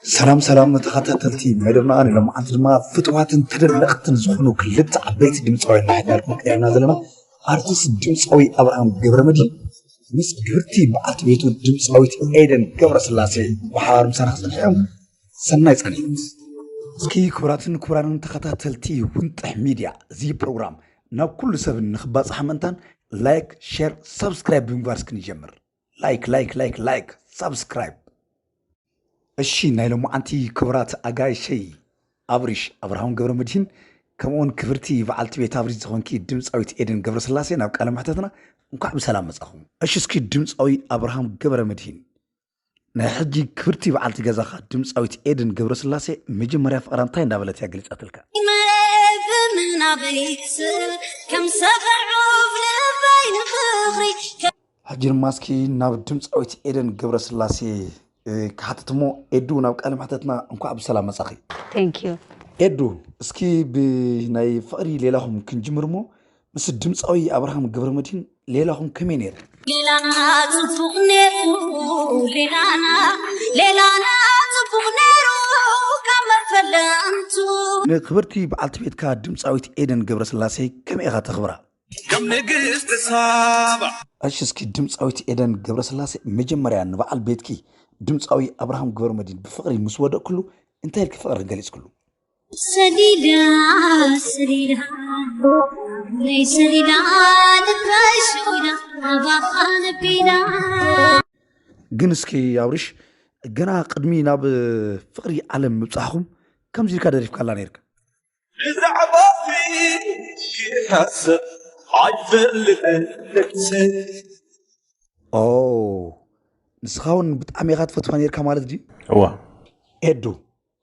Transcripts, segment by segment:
ሰላም ሰላም ተኸታተልቲ ናይ ድማ ሎምዓንቲ ድማ ፍትዋትን ተደነቕትን ዝኾኑ ክልተ ዓበይቲ ድምፃውያን ናሕዳርኩም ቀሪብና ዘለና ኣርቲስት ድምፃዊ ኣብርሃም ገብረመድህን ምስ ግብርቲ በዓልቲ ቤቱ ድምፃዊት ኤደን ገብረስላሴ ብሓባር ምሳና ክፀንሐዮም ሰናይ ፃኒት እስኪ ክቡራትን ክቡራንን ተኸታተልቲ ውንጥሕ ሚድያ እዚ ፕሮግራም ናብ ኩሉ ሰብ ንክባፅሓ ምእንታን ላይክ ሼር ሰብስክራይብ ብምግባር እስኪ ንጀምር ላይክ ላይክ ላይክ ላይክ ሳብስክራይብ እሺ ናይ ሎማዓንቲ ክቡራት ኣጋይሸይ ኣብሪሽ ኣብርሃም ገብረ መድሂን ከምኡውን ክብርቲ በዓልቲ ቤት ኣብሪሽ ዝኾንኪ ድምፃዊት ኤደን ገብረ ስላሴ ናብ ቃለ መሕተትና እንኳዕ ብሰላም መፃኹም እሺ እስኪ ድምፃዊ ኣብርሃም ገብረ መድሂን ናይ ሕጂ ክብርቲ በዓልቲ ገዛኻ ድምፃዊት ኤደን ገብረ ስላሴ መጀመርያ ፍቕራ እንታይ እንዳበለት እያ ገሊፃትልካ ምናበይ ክስር ከም ሰፈር ዑፍ ልበይ ንፍቕሪ ሕጂ ድማ እስኪ ናብ ድምፃዊት ኤደን ገብረስላሴ ክሓትት እሞ ኤዱ ናብ ቃለ መሕተትና እንኳዕ ብሰላም መጻኺ። ቴንኪዩ ኤዱ እስኪ ብናይ ፍቕሪ ሌላኹም ክንጅምር እሞ ምስ ድምፃዊ ኣብርሃም ገብረመድህን ሌላኹም ከመይ ነይሩ? ሌላና ጽቡቕ ነይሩ ሌላና ሌላና ጽቡቕ ነይሩ ካብ መፈለምቱ ንክብርቲ በዓልቲ ቤትካ ድምፃዊት ኤደን ገብረስላሴ ከመይ ኢኻ ተኽብራ? ከም ንግስቲ ሳባ እሺ እስኪ ድምፃዊት ኤደን ገብረስላሴ መጀመርያ ንበዓል ቤትኪ ድምፃዊ ኣብርሃም ግበርመድህን ብፍቕሪ ምስ ወደቕክሉ እንታይ ኢልኪ ፍቕሪ ገሊፅክሉ? ሰሊላ ሰሊላ ናይ ሰሊላ ልበይ ሽኺላ ኣባኻ ነቢላ ግን እስኪ ኣብርሽ ገና ቅድሚ ናብ ፍቕሪ ዓለም ምብፃሕኹም ከምዚ ኢልካ ደሪፍካላ ነይርካ ብዛዕባኺ ክሓስብ ኣይፈልጥን ኦ ንስኻ እውን ብጣዕሚ ኢኻ ትፈትዋ ነርካ ማለት ድዩ እዋ ኤዱ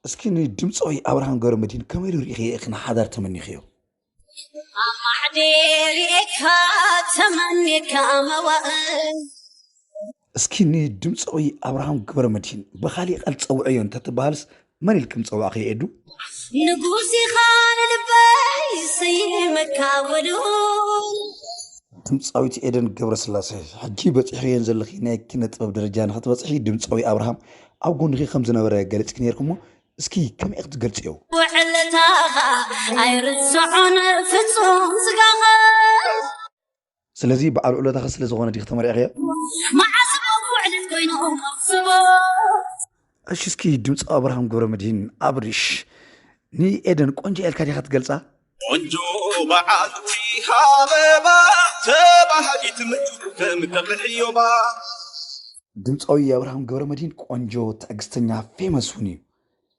እስኪ ንድምፃዊ ኣብርሃም ገብረ መድህን ከመይ ኢሉ ርኢኺ ኢኺ ንሓዳር ተመኒኽዮ ኣማዕዴሪካ ተመኒካ መዋእል እስኪ ንድምፃዊ ኣብርሃም ገብረመድሂን ብኻሊእ ቃል ፀውዐዮ እንተትበሃልስ መን ኢልኪ ምፀዋዕኽዮ ኤዱ? ንጉስ ኢኻ ንልበይ ይስይመካ ወልኡል። ድምፃዊት ኤደን ገብረስላሰ ሕጂ በፂሕኽዮን ዘለኺ ናይ ኪነ ጥበብ ደረጃ ንኽትበፅሒ ድምፃዊ ኣብርሃም ኣብ ጎንኺ ከም ዝነበረ ገሊፅኪ ነይርኪ እሞ እስኪ ከመይ ኢኺ ትገልፅዮ? ውዕለታኻ ኣይርስዖን ፍጹም ስጋኻ ስለዚ በዓል ውዕሎታኺ ስለ ዝኾነ ዲኺ ተመሪዕኽዮ? መዓስ እሞ ውዕለት ኮይኑ ከኽስቦ። እሺ እስኪ ድምፂ ኣብርሃም ገብረመድሂን ኣብርሽ ንኤደን ቆንጆ እያ ኢልካ ዲኻ ትገልፃ? ቆንጆ በዓልቲ ኣበባ ተባሃጊት ምድር ከም ቀብሒ ዕዮባ። ድምፃዊ ኣብርሃም ገብረመድሂን ቆንጆ፣ ትዕግስተኛ፣ ፌመስ እውን እዩ።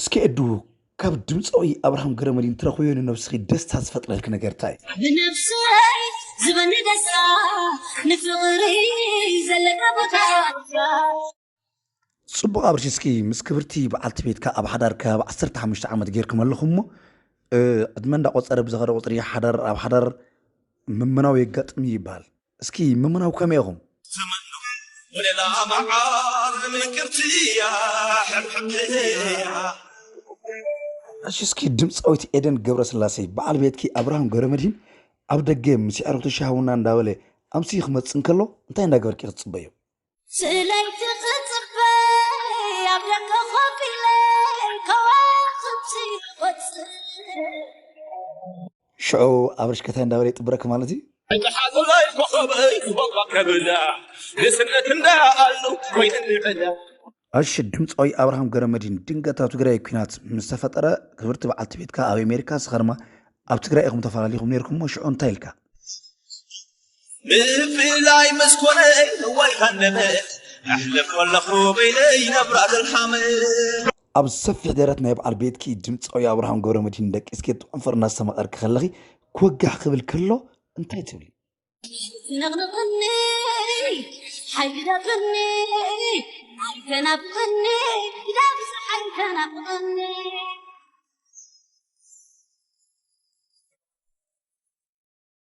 እስኪ ኤዱ ካብ ድምጻዊ ኣብርሃም ገረመድሂን ትረኽብዮ ንነብስኺ ደስታ ዝፈጥረልኪ ነገር ታይ እዩ? ብነብሰይ ዝበኒ ደስታ ንፍቅሪ ዘለካ ቦታ። ጽቡቅ ኣብርሽ እስኪ ምስ ክብርቲ በዓልቲ ቤትካ ኣብ ሓዳር ከባቢ ዓሰርተ ሓሙሽተ ዓመት ጌርኩም ኣለኹምሞ ዕድመ እንዳቆጸረ ብዝኸደ ቁጽሪ ሓዳር ኣብ ሓዳር ምምናው የጋጥም እዩ ይበሃል እስኪ ምምናው ከመይ ኢኹም? ዘመንኩም ወለላ መዓር ምቅርቲ እያ ሕብሕብቲ እያ። እሺ እስኪ ድምፃዊት ኤደን ገብረስላሴ በዓል ቤትኪ ኣብርሃም ገብረመድሂን ኣብ ደገ ምስ የዕሩኽቱ ሻህ ቡና እንዳበለ ኣምስዩ ክመፅእ እንከሎ እንታይ እንዳገበርኪ ክትፅበዩ? ስለይቲ ክጽበይ ኣብ ደገ ኮፍ ኢለ ከዋኽብቲ ይቖጽር ሽዑ ኣብርሽ ከታይ እንዳበለ ይጥብረኪ ማለት እዩ። እጥሓቱላይ ኮኸበይ ክበቋ ከብላ ንስነት እንዳኣሉ ኮይንኒ ዕላ እሺ ድምፃዊ ኣብርሃም ገረመዲን ድንገት ኣብ ትግራይ ኩናት ምስ ተፈጠረ ክብርቲ በዓልቲ ቤትካ ኣብ ኣሜሪካ ንስኻ ድማ ኣብ ትግራይ ኢኹም ተፈላሊኹም ነይርኩሞ ሽዑ እንታይ ኢልካ ብፍላይ ምስ ኮነ እዋይ ሃነመ ኣሕልፍ ከለኹ በይነይ ነብራ ዘልሓመ ኣብ ሰፊሕ ደረት ናይ በዓል ቤትኪ ድምፃዊ ኣብርሃም ገብረ መድህን ደቂስኪ ጥዑም ፍር እናስተማቐርኪ ከለኺ ክወጋሕ ክብል ከሎ እንታይ ትብሊ? ነቕንቕኒ ሓይሊ ደቕኒ ኣይተናብቐኒ ዳብዛሕ ኣይተናብቐኒ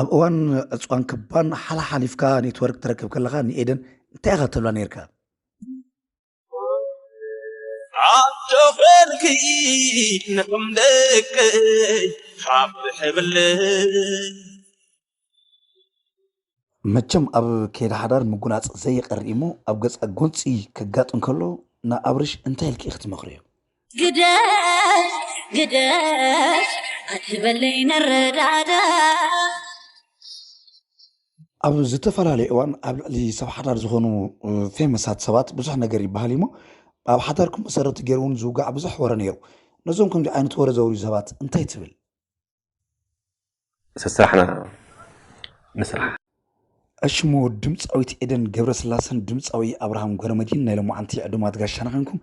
ኣብ እዋን ዕጽዋን ክባን ሓላሓሊፍካ ኔትወርክ ትረክብ ከለኻ ንኤደን እንታይ ኢኻ ትብላ ኔርካ? ዓዶ ዄንኪ ንኹም ደቀይ ሓፍ ሕብለይ። መቸም ኣብ ከይዲ ሓዳር ምጉናፅ ዘይቀር እዩሞ ኣብ ገፃ ጎንፂ ከጋጥም ከሎ ንኣብርሽ እንታይ ኢልኪ ኢኪ ትመክርዮ? ግደፍ ግደፍ ኣትበለይ ንረዳዳ ኣብ ዝተፈላለየ እዋን ኣብ ልዕሊ ሰብ ሓዳር ዝኾኑ ፌመሳት ሰባት ብዙሕ ነገር ይበሃል እዩሞ ኣብ ሓዳርኩም መሰረት ገይሩ እውን ዝውጋዕ ብዙሕ ወረ ነይሩ ነዞም ከምዚ ዓይነት ወረ ዘውርዩ ሰባት እንታይ ትብል ስስራሕና ንስራሕ። እሽሞ ድምፃዊት ኤደን ገብረስላሰን ድምፃዊ ኣብርሃም ገብረመድህን ናይ ሎማዓንቲ ዕዱማት ጋሻና ኮንኩም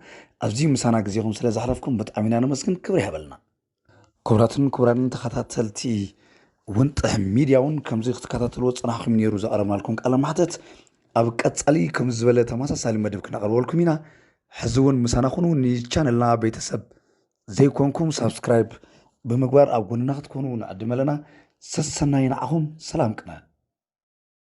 ኣብዚ ምሳና ግዜኹም ስለ ዘሕለፍኩም ብጣዕሚ ኢና ነመስግን ክብሪ ይሃበልና። ክቡራትን ክቡራንን ተኸታተልቲ ወንጥሕ ሚድያ እውን ከምዚ ክትከታተልዎ ፀናሕኩም ነይሩ ዘቕረብናልኩም ቃለ ማሕተት ኣብ ቀፃሊ ከም ዝበለ ተመሳሳሊ መደብ ክነቕርበልኩም ኢና። ሕዚ እውን ምሳና ኩኑ ንቻነልና ቤተሰብ ዘይኮንኩም ሳብስክራይብ ብምግባር ኣብ ጎንና ክትኮኑ ንዕድም ኣለና ሰሰናዩ ንዓኹም ሰላም ቅነ።